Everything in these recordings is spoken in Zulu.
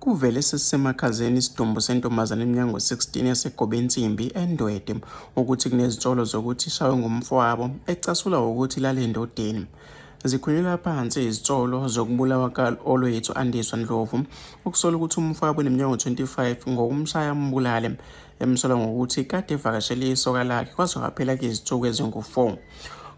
Kuvele sesisemakhazeni isidumbu sentombazane eminyaka ngo-16 yaseGobensimbi, eNdwede, ukuthi kunezinsolo zokuthi ishawe ngumfowabo, ecasula ukuthi lale endodeni. Zikhulelwa phansi izinsolo zokubulawa ka-Olwethu Andiswa Ndlovu, okusola ukuthi umfowabo oneminyaka ngo-25 ngokumshaya ambulale, emsola ngokuthi kade evakashele isoka lakhe kwaze kwaphela izinsuku ezingu-4.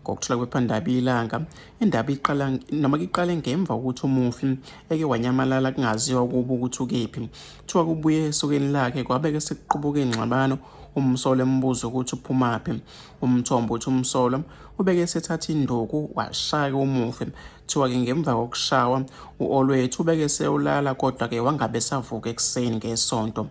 Ngokuthola kwephephandaba Ilanga, Indaba iqala noma iqale ngemva kokuthi umufi eke wanyamalala kungaziwa ukuba ukuthi ukephi. Kuthiwa kubuye esokeni lakhe kwabeke sekuqubuka ingxabano umsolwa embuza ukuthi uphumaphi. Umthombo uthi umsolwa ubeke sethatha induku washaya umufi. Kuthiwa-ke ngemva kokushawa u-Olwethu ubeke seyolala kodwa-ke wangabe esavuka ekuseni ngesonto.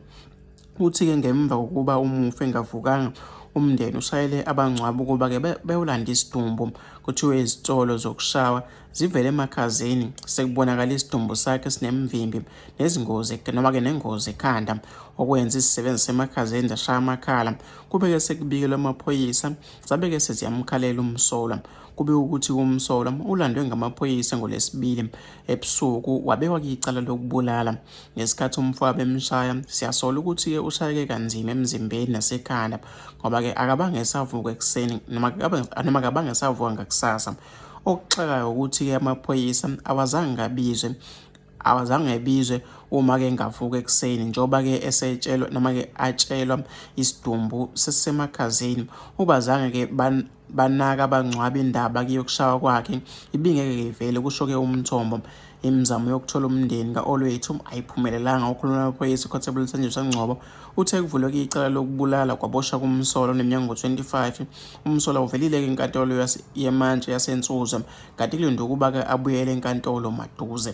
Uthi-ke ngemva kokuba umufi engavukanga umndeni ushayele abangcwaba ukuba-ke bewulanda isidumbu kuthiwe izitolo zokushawa zivele emakhazeni sekubonakala isidumbu sakhe sinemvimbi nezingozi noma-ke nengozi ekhanda okwenza izisebenzi semakhazeni zashaya amakhala kube-ke sekubikelwe amaphoyisa zabe-ke seziyamkhalela umsolwa kube ukuthi umsolwa ulandwe ngamaphoyisa ngolesibili ebusuku wabekwa kwicala lokubulala ngesikhathi umfowabo emshaya siyasola ukuthi-ke ushayeke kanzima emzimbeni nasekhanda ngoba-ke akabange esavuka ekuseni noma akabange esavuka ngakusasa okuxakayo ukuthi-ke amaphoyisa awazange ngabizwe awazange ebizwe uma-ke ngavuka ekuseni njengoba-ke esetshelwa noma-ke atshelwa isidumbu sesisemakhazini ubazange-ke banaka abangcwaba indaba yokushawa kwakhe ibingeke ivele kusho-ke umthombo imizamo yokuthola umndeni ka-olwethu ayiphumelelanga ukhuluma namaphoyisa iconstable nsenjiswa ngcobo uthe kuvuleke icala lokubulala kwaboshwa kumsolwa oneminyaka ngo-25 umsolwa uvelile-ke inkantolo yemantshi yasensuze kanti kulinde ukuba-ke abuyele enkantolo maduze